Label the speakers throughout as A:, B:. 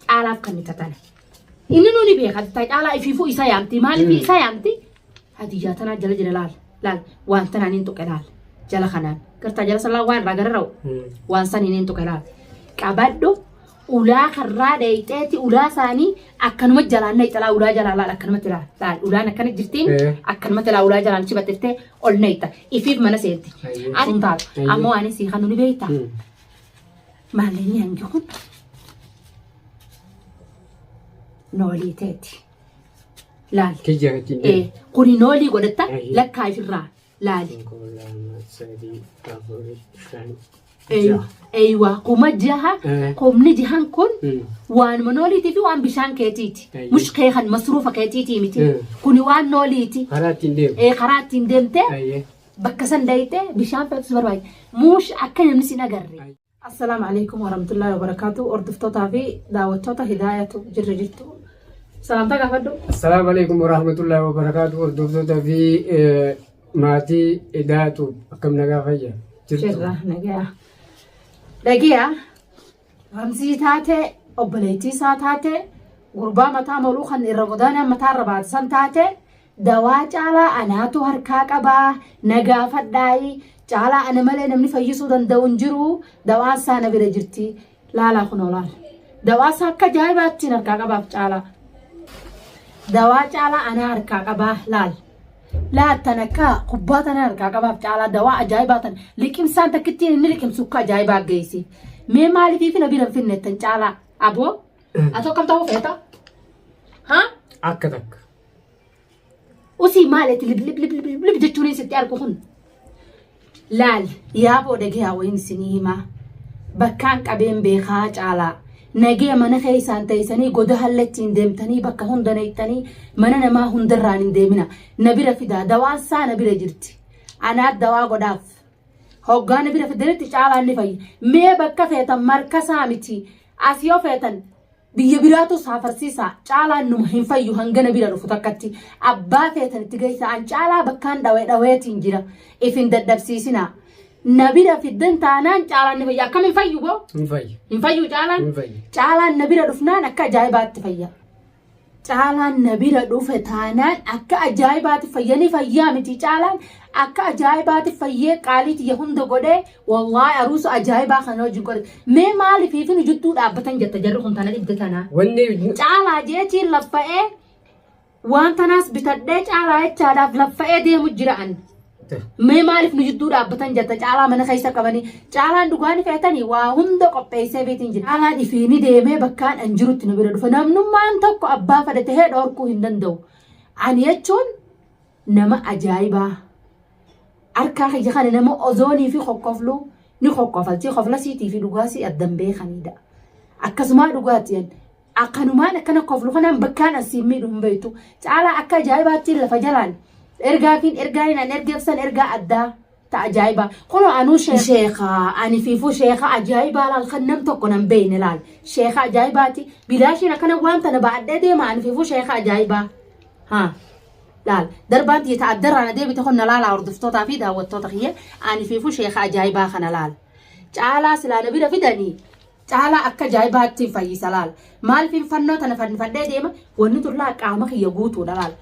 A: Caalaaf kan nikatan. Inni nuni beeka ta caalaa ifiifuu isa yaamti maaliif Mm. isa yaamti hadiyyaa tanaa jala jira laal laal waan tanaan hin tuqe laal jala kanaan gartaa jala salaa waan irraa gara ra'u waan san hin tuqe laal qabadhu ulaa karraa dheeyxeeti ulaa isaanii akkanuma jalaan nayxalaa ulaa jalaa laal akkanumatti laal laal ulaan akkana jirtiin Eh. akkanumatti laal ulaa jalaan chibaxettee ol nayxa ifiif mana seenti Ayyee. asin taatu Ayyee. ammoo ani sii kanu ni beektaa Mm. Maalini hangi kun noolii teeti. Laal. Tijja irratti hin deemu. Eh, Kuni noolii godhatta Ayi. lakkaa ifirraa laali. Tokko, lama, sadii, afur, shan, Eey- jaha. Eeywa kuma jaha Eh. kumni jahan kun Mm. waanuma nooliitii fi waan bishaan keetiiti. Ayi. Mushkee kan masruufa keetiitii miti. Mm. Kuni waan nooliiti. Karaa ittiin deemu. Eh, Karaa
B: ittiin deemtee
A: Ayyee. Bakka san dayite bishaan pepsi barbaade. Muush akka namni sin agarre. Assalaamu alaikum warahmatullahi wabarakatuh. Hordoftootaa fi daawwattoota hidaayatu jirra jirtu. Salaamtaa gaafadhu. Assalaamu alaikum
B: warahmatullahi wabarakatuh. Hordoftootaa fi maatii hidaayatu akkam nagaa fayya jirtu. Jirra
A: nagaa. Dhagiyaa. Ramzii taate obboleettii isaa taate gurbaa mataa moluu kan irra godaanaan mataa irra baatisan taate dawaa caalaa anaatu harkaa qabaa na gaafadhaayi caalaa ana malee namni fayyisuu danda'u hin jiru dawaan isaa na bira jirti laalaa kun olaal dawaa isaa akka ajaa'ibaattiin harkaa qabaaf caalaa dawaa caalaa anaa harkaa qabaa laal laattan akka kubbaa tana harkaa qabaaf caalaa dawaa ajaa'ibaa tan liqimsaan takkittiin inni liqimsu akka ajaa'ibaa geessi. Mee maaliif na bira hin finne tan caalaa aboo ati akkam ta'uu feeta? Haa? Akka takka. Usii maal itti lib lib lib lib lib jechuun sitti argu kun? Laal yaaboo dhagayaa wayin isinii himaa bakkaan qabeen beekaa caalaa nagee mana keessaan teessanii goda hallattiin deemtanii bakka hunda neettanii mana namaa hundarraan hin deemina na bira fidaa dawaan isaa na bira jirti anaa dawaa godhaaf hoggaa na bira fiddanitti caalaan ni fayya mee bakka feetan markasaa miti as yoo feetan Biyya biraatu isaa farsiisaa caalaan numa hin fayyu hangana bira dhufu takkatti abbaa feetan itti geessaa an caalaa bakkaan dhawee dhaweetiin jira if hin dadhabsiisinaa na bira fiddan taanaan caalaan ni fayya akkam hin fayyu boo Hin fayyu. hin fayyu caalaan Hin fayyu. caalaan na bira dhufnaan akka ajaa'ibaatti fayya Caalaan na bira dhufe taanaan akka ajaa'ibaati fayyanii fayyaa miti caalaan akka ajaa'ibaati fayyee qaalii tiyya hunda godhee wallaahi aruusa ajaa'ibaa kana wajjin godhe mee maaliif hiifinu jittuu dhaabbatan jetta jarri kun tana dhibde tanaa. Wanni Caalaa jeetiin laffa'ee waan tanaas bitadhee caalaa jechaadhaaf laffa'ee deemu jira an. Mee maaliif nu jidduu dhaabbatan jetta caalaa mana keessa qabanii caalaan dhugaa ni feetanii waa hunda qopheessee beetiin jira. Caalaan ifii ni deemee bakkaan an jirutti nu bira dhufa. Namnummaan tokko abbaa fada tahee dhoorkuu hin danda'u. Ani jechuun nama ajaa'ibaa. Harkaa kiyya kana nama ozoonii fi kokkofluu ni kokkofalchee kofla siitii fi dhugaa sii addan beekanidha. Akkasumaa dhugaatti Akkanumaan akkana koflu kanaan bakkaan an siin miidhu hin beektu. Caalaa akka ajaa'ibaatti lafa jalaan ergaafiin ergaa hin an ergeef san ergaa addaa ta ajaa'iba. Kunoo anuu sheek- sheekaa ani fiifuu sheekaa ajaa'ibaa laal kan nam tokko nan beeyne laal. Sheekaa ajaa'ibaati bilaashiin akkana waan tana ba'adhee deema ani fiifuu sheekaa ajaa'ibaa. Haa. laal darbaan tiyya ta'a darraan adeebite kun na laalaa hordoftootaa fi daawwattoota kiyya ani fiifuu sheekaa ajaa'ibaa kana laal. Caalaa silaa na bira fidanii Caalaa akka ajaa'ibaattiin fayyisa laal. Maalfiin fannoo tana fannifadhee deema wanni tun laal qaama kiyya guutuudha laal.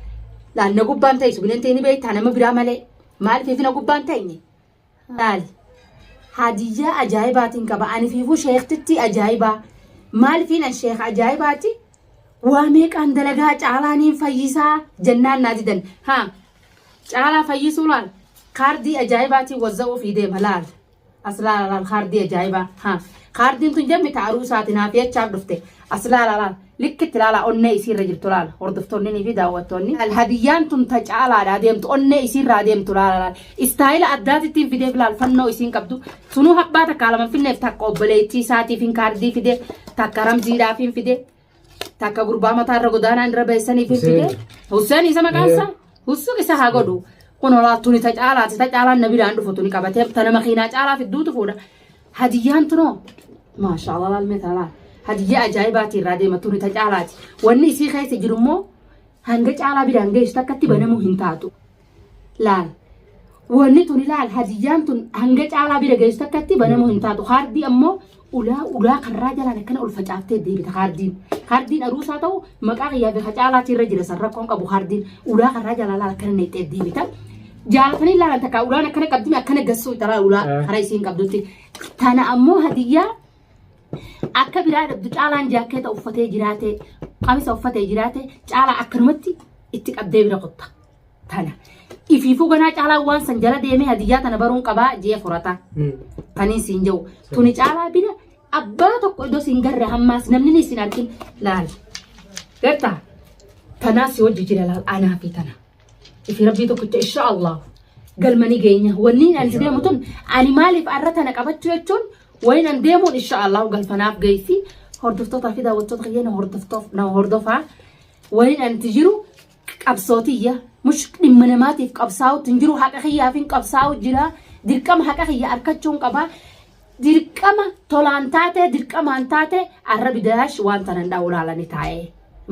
A: Laal na gubbaan ta'isu bineentii ni beektaa nama biraa malee. Maalfiif na gubbaan ta'inye? Laal. Hadiyyaa ajaa'ibaatiin qaba. Ani fiifuu sheektittii ajaa'ibaa. Maalfiin an sheeka ajaa'ibaati? Waa meeqaan dalagaa caalaa niin fayyisaa jennaan naa didan. Haa. Caalaa fayyisuu laal. Kaardii ajaa'ibaatiin wazza'uu fi deema laal. Aslaal alaal kaardii ajaa'ibaa. Ha. Kaardiin tun jammi ta aruusaati naaf jechaaf dhufte. Aslaal alaal likkitti laala onnee isiirra jirtu laala. Hordoftoonni fi daawwattoonni. Hadiyyaan tun ta caalaadha adeemtu onnee isiirra adeemtu laala laala. Istaayila addaatittiin fideef laal fannoo isiin qabdu. Sunuu habbaa takka lama finneef takka obboleettii isaatiif hin kaardii fide takka ramziidhaaf hin fide. takka gurbaa mataa irra godaanaan irra bahe saniif hin fide Hussein isa maqaan isaa Hussein isa haa godhu kun olaattuun isa caalaati ta caalaan na biraan dhufu tuni qabatee ta nama kiinaa caalaa fidduutu fuudha hadiyyaan tunoo maashaa Allah laalmee taalaa hadiyyaa ajaa'ibaati irraa deema tuni ta caalaati wanni isii keessa jiru immoo hanga caalaa biraan geessu takkatti banamuu hin taatu laal wanni tun ilaal hadiyyaan tun hanga caalaa bira geessu takkatti banamu hin taatu kaardii ammoo ulaa ulaa karraa jalaan akkana ol facaaftee deebita kaardiin kaardiin aruusaa ta'u maqaa kiyyaa beeka caalaatti irra jira san rakkoon qabu kaardiin ulaa karraa jalaan laal akkana neexxee deebita jaalatanii ilaalan takka ulaan akkana qabdime akkana gassuu italaa ulaa Eh. karaa isiin qabdutti tana ammoo hadiyyaa akka biraa dhabdu caalaan jaakkeeta uffatee jiraate qamisa uffatee jiraate caalaa akkanumatti itti qabdee bira qotta tana ifiifuu ganaa caalaa waan san jala deemee hadiyyaa tana baruun qabaa jee furata taniin siin jedhu tuni caalaa bira abbaa tokko iddoo siin garre hammaas namni ni siin argin laal garta tanaa si hojji jira laal anaa fi tana ifi rabbii tokkicha insha allah galmanii geenya wanni ani si deemu tun ani maaliif arra tana qabachuu jechuun wayin an deemuun insha allah galfanaaf geessi hordoftootaa fi daawwattoota kiyya na hordoftoof na hordofaa wayin anti jiru qabsoo tiyya mush dhimma namaatiif qabsaa'uutti hin jiru haqa kiyyaafin qabsaa'u jira dirqama haqa kiyya arkachuun qaba dirqama tolaan taate dirqamaan taate arra bidaash waan tanan dha'u laalani taa'e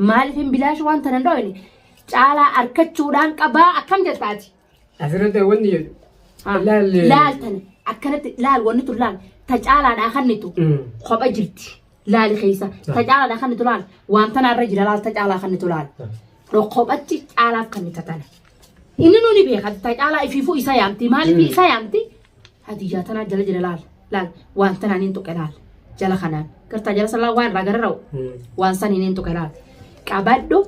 A: maaliif hin bidaash waan tanan dha'u caalaa arkachuudhaan qabaa akkam jettaati Asirratti wanni
B: jedhu. Ah, Laalle.
A: Laal tana akkanatti laal wanni tun laal ta caalaadhaa kannitu Mm. kopha jirti laali keessa ta caalaadhaa kannitu laal waan tana irra jira laal ta caalaa kannitu laal kophatti caalaaf kannita tana inni nuni beeka ta caalaa ifiifuu isa yaamti maaliif Mm. isa yaamti hadiyyaa tanaa jala jira laal laal waan tanaan hin tuqe laal jala kanaan gartaa jala salaa waan irraa gara ra'u Mm. waan san hin tuqe laal qabadhu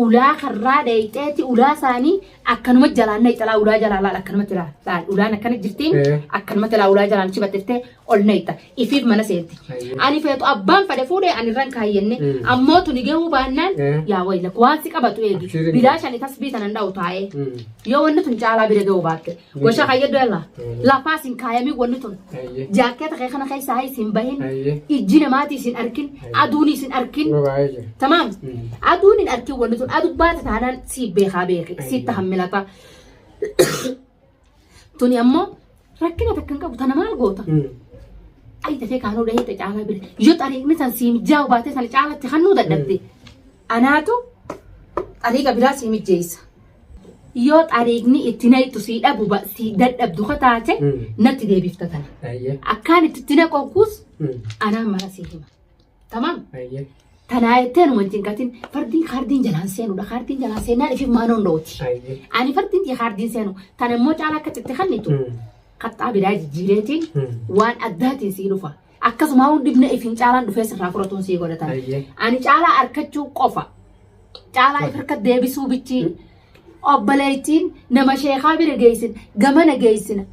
A: ulaa karraa dheeyxeeti ulaa isaanii akkanuma jalaan nayxa laa ulaa jalaa laal akkanumatti laa laal ulaan akkana jirti Eh. akkanumatti laa ulaa jalaan chibattee ol nayxa ifiif mana seenti Ayyee. ani feetu abbaan fade fuudhe ani irraan kaayyenne Mm. ammoo tuni gahuu baannaan Eh. yaa wayila waan si qabatu eegi Abshirin. bilaashan itas biitanan dha'u taa'ee Mm. yoo wanni tun caalaa bira gahuu baatte Washa kayya dala. Lafaa sin kaayamii wanni tun. Jaakkeeta kee kana keessaa hayis hin bahin. Ijji namaatii sin arkin. Aduun sin arkin. Tamaam. Aduun hin arkin wanni tun. Aduu baata taanaan si beekaa beeki. Si tahammilata. Tuni ammoo rakkina takka hin qabu. Tana maal goota? Ayi tafee kaanuu dhahee ta caalaa bira. Yoo xariiqni san siim jaa'u baatee sana caalatti hannuu dadhabde. Anaatu xariiqa biraa sii mijjeessa. Yoo xariiqni itti nayxu sii dhabu ba- sii dadhabdu ka taate Mm. natti deebifta tana. Ayyee. Akkaan itti itti naqoonkuus Mm. anaan mara sii hima. Tamam? Ayyee. Tanaa jettee numa hin cinqatin fardiin kaardiin jalaan seenudha. Kaardiin jalaan seenaan ifiif maanoon dhooti. Ayyee. Ani fardiin tii kaardiin seenu tan immoo caalaa akka xitti kannitu Mm. kaxxaa biraa jijjiireetiin Mm. waan addaatiin sii dhufa. Akkasuma haun dhibna ifin caalaan dhufee sirraa furatuun sii godhatan. Ayyee. Ani caalaa arkachuu qofa. Caalaa if harka deebisuu bichii. Obboleettiin nama sheekaa bira geessin gamana geessin.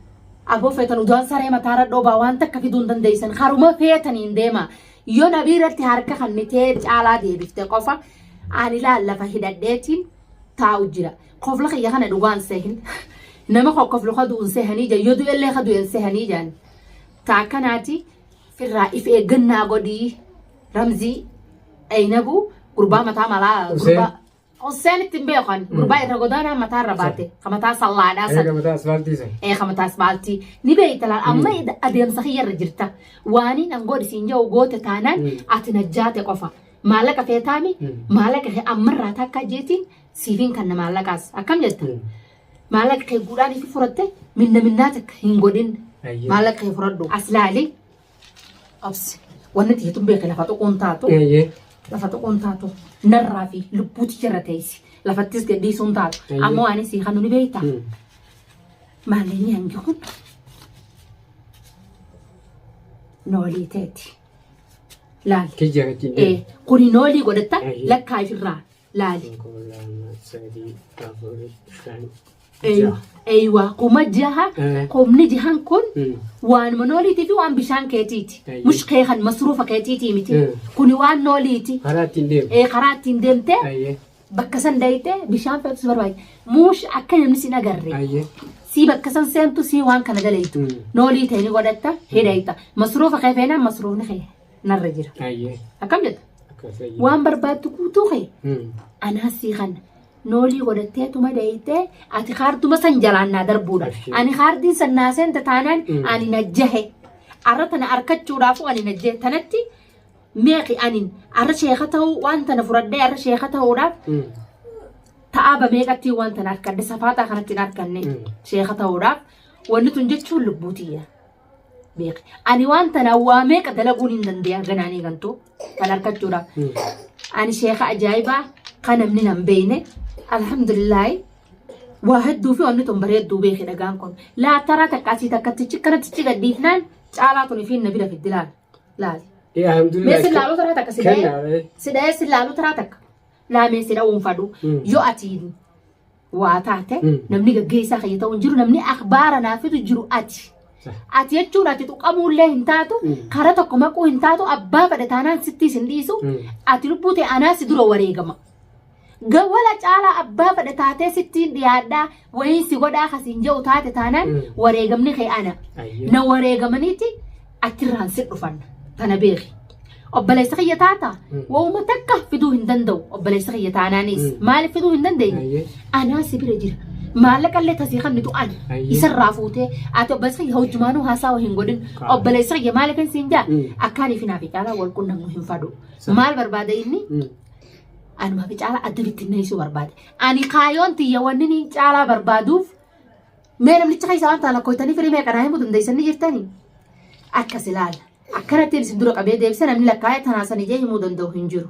A: Aboo feetan udaan saree mataarra dhoobaa waan takka fiduu hin dandeessan. Haruma feetaniin deema. Yoo nabii irratti harka kannitee caalaa deebifte qofa. Ani laal lafa hidhadheetiin taa'u jira. Kofla kiyya kana dhugaan sehin. Nama koo kofla kaduun sehanii jira. Yoo du'ellee kadu'en sehanii jiran. Ta akkanaati firraa if eeggannaa godhii ramzii dhaynabuu gurbaa mataa malaa Hussein. gurbaa Hussein ittiin beekan gurbaa irra godaanaa mataa irra baate ka mataa sallaadhaa san Eega mataa asfaaltii
B: san. ee ka mataa asfaaltii
A: ni beeyta laal amma ida- adeemsa kiyya irra jirta waaniin an godhi siin jedhu goote taanaan Mm. ati najjaate qofa maallaqa feetaami Mm. maallaqa kee ammarraa takka jeetiin siifiin kanna maallaqaas akkam jetta Mm. Maallaqa kee guudhaan itti furatte minna minnaa takka hin godhin. Ayyee. Maallaqa kee furadhu. As laali. Obsi. Wanni ati jetun beeke lafa tuquun taatu. Ayyee. Lafa tuquun taatu. Narraa fi lubbuuti jala teessi. Lafattis gadhiisuun taatu. Ayyee. Ammoo ani si kanu ni beekta. Mm. Maallaqni hangi kun noolii teeti. Laali. Tijjara tijjara. Eh,
B: kuni noolii
A: godhatta Ayyee. lakkaa ifirraa laali Tokko, lama, sadii, afur, shan, Ey- jaha. eywa kuma jaha Eh. kumni jahan kun Mm. waanuma nooliitii fi waan bishaan keetiiti Eeyyee. mushkee kan masruufa keetiitii miti Mm. kuni waan nooliiti Karaa ittiin deemu. ee karaa
B: ittiin deemtee
A: Ayyee. bakka san daytee bishaan feetus barbaade muush akka namni sin agarre Ayyee. sii bakka san seentu sii waan kana dalaytu Mm. noolii ta'e ni godhatta hidhayta masruufa kee feenaan masruufni kee narra jira. Ayyee. Akkam jetta? Akkas ayyee. Waan barbaaddu guutuu kee Hmm. anaas sii kana. Noolii godhattee tuma deeytee ati kaarduma san jalaan naa darbuudha. Abshii. Ani kaardiin san naa seente taanaan Mm. ani na jahe. Arra tana arkachuudhaafuu ani na jahe. Tanatti meeqi ani arra sheeka ta'uu waan tana fudhadhee arra sheeka ta'uudhaaf Hmm. ta'aaba meeqatti waan tana arkadde safaataa kanatti hin arkanne Mm. sheeka ta'uudhaaf wanni tun jechuun lubbuutiyya. beeki. Ani waan tanaan waa meeqa dalaguun hin dandeenya ganaan eegantu kan harkachuudhaaf. Ani sheeka ajaa'ibaa kan namni nan beeyne alhamdulillaahi waa hedduu fi wanni tun bareedduu beeki dhagaan kun. Laataraa takka asii takka tichi kana tichi gadhiifnaan caalaa tun fi na bira fiddi laal. Laal. Mee Alhamdulillah.
B: si laaluu taraa takka si dhahee
A: Kenna. si dhahee si laaluu taraa takka laamee si dhahuun fadhu Mm. yoo ati waa taate Mm. namni gaggeessaa kiyya ta'u hin jiru namni akbaara naafitu jiru ati. Sah. Ati jechuun ati tuqamuullee hin taatu Mm. karaa tokko maquu hin taatu abbaa fedhe taanaan sittiis hin dhiisu Mm. ati lubbuu ta'e anaa si dura wareegama. Gawwala caalaa abbaa fedhe taatee sittiin dhiyaadhaa wayiin si godhaa kasiin jedhu taate taanaan Mm. wareegamni kee ana. Ayyoo. Na wareegamaniiti achirraan si dhufanna tana beeki obboleessa kiyya taata Mm. wauma takka fiduu hin danda'u obboleessa kiyya taanaanis Mm. maaliif fiduu hin dandeenye Ayyee. anaa si bira jira maallaqa illee tasii kan mitu ani Ayyee. isarraa fuutee ati obboleessa kiyya hojjumaanuu haasawa hin godhin Kaa. obboleessa kiyya maaliif hin siin jaa Mm. akkaanii fi naafi caalaa wal qunnamnu hin fadhu Sa- maal barbaada inni Mm. anuma fi caalaa adda bittinneessuu barbaade ani kaayoon tiyya wanni ni caalaa barbaaduuf Mee namticha keessa waan taala koytanii firii meeqa naa himuu dandeessanii jirtanii? Akkas ilaala. Akkanattiin isin dura qabee deebisa namni lakkaa'ee tanaasanii jee himuu danda'u hin jiru.